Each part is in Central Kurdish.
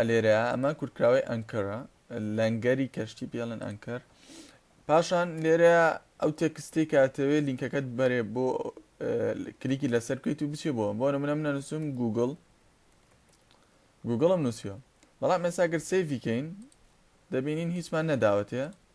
ە لێرە ئەمە کورتکراوەی ئەنکەرە، لەنگەری کەشتی پێ ئەڵێن ئەنکەر. پاشان لێرە ئەو تێکستەی کە ئەتەوێ لینکەکەت بەرێ بۆ کلیکی لەسەر بکەیت و بچێ بۆ بۆ نمونە منە نووسم گوگل گوگڵم نووسیوە بەڵام ئێستا گەر سیڤیکەین دەبینین هیچمان نەداوەتێ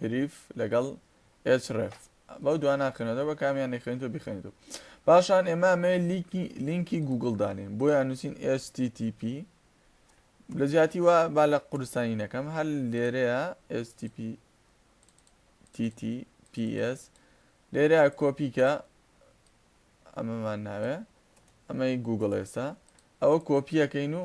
هریف لەگەڵ ئێچ ڕێف بەو دوا ناخێنەوە بە کامیان نەخێنیتەوە بیخێنیتەوە پاشان ئێمە ئەمەیە لیکی لینکی گوگل دانێن بۆیان نووسین HTTP لە جیاتی وا با لە قورستانی نەکەم هەر لێرەیە HTTP TTPS لێرە کۆپیکە ئەمەمان ناوێ ئەمەی گوگل ئێستا ئەوە کۆپیەکەین و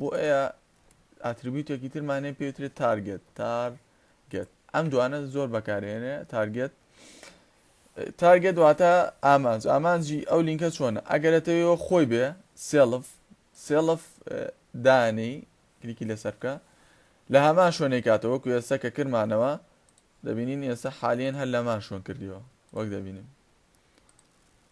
بۆیە ئاتریبیوتێکی ترمان هەیە پێی وترێت تارگێت، تار گێت ئەم دوانە زۆر بەکارێنێ تارگێت تارگێت واتە ئامانج ئامانجی ئەو لینکە چۆنە ئەگەرەتەوەەوە خۆی بێ سێڵف سێڵف دانی کلیکی لەسەر بکە لە هەمان شوێنێک کاتەوە کو ئێستا کە کرمانەوە دەبینین ئێستا حالیان هەر لەمان شوێن کردیەوە وەک دەبینین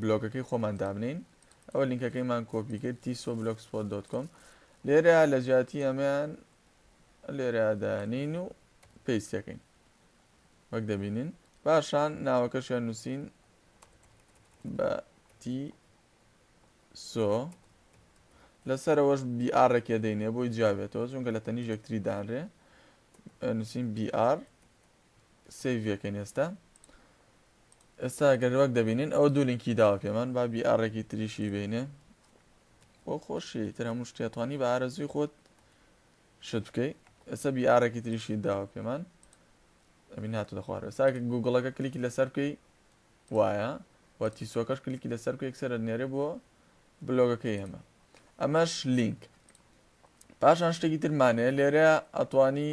بلۆگەکەی خۆمان دابنێین ئەوە لینکەکەیمان کۆپی کرد تیسۆ بلۆکسپۆت دۆت کۆم لێرە لە جیاتی ئەمەیان لێرە دانین و پێیسەکەین وەک دەبینین پاشان ناوەکەشیان نووسین بە تی سۆ لەسەرەوەش بیئارێکێ دەینێ بۆی جیاوێتەوە چونکە لە تەنیژ یەکتری دانرێ نووسین بیئار سەیڤی ئەکەین ئێستا ئێستا گەر وەک دەبینین ئەوە دوو لینکی داوە پێمان با بی ئاڕێکی تریشی بینێ بۆ خۆشی تر هەموو شتێتوانی بە ئارەزوی خۆت شت بکەی ئێستا بی ئاڕێکی تریشی داوە پێمان ئەبین هاتو دەخوارد ئێستا گوگڵەکە کلیکی لەسەر بکەی وایە و تیسۆکەش کلیکی لەسەر بکە یەکسەرە نێرێ بۆ بلۆگەکەی ئێمە ئەمەش لینک پاشان شتێکی ترمانەیە لێرە ئەتوانی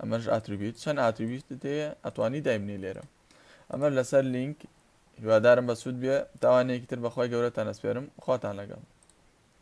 ئەمەش ئاتریبیوت چەند ئاتریبیوتت هەیە ئەتوانی دایبنی لێرە ئەمە لەسەر لینک هیوادارم بەسوود بێ تاوانێکی تر بەخوای گەورەتان ئەسپێرم خواتان لەگەڵ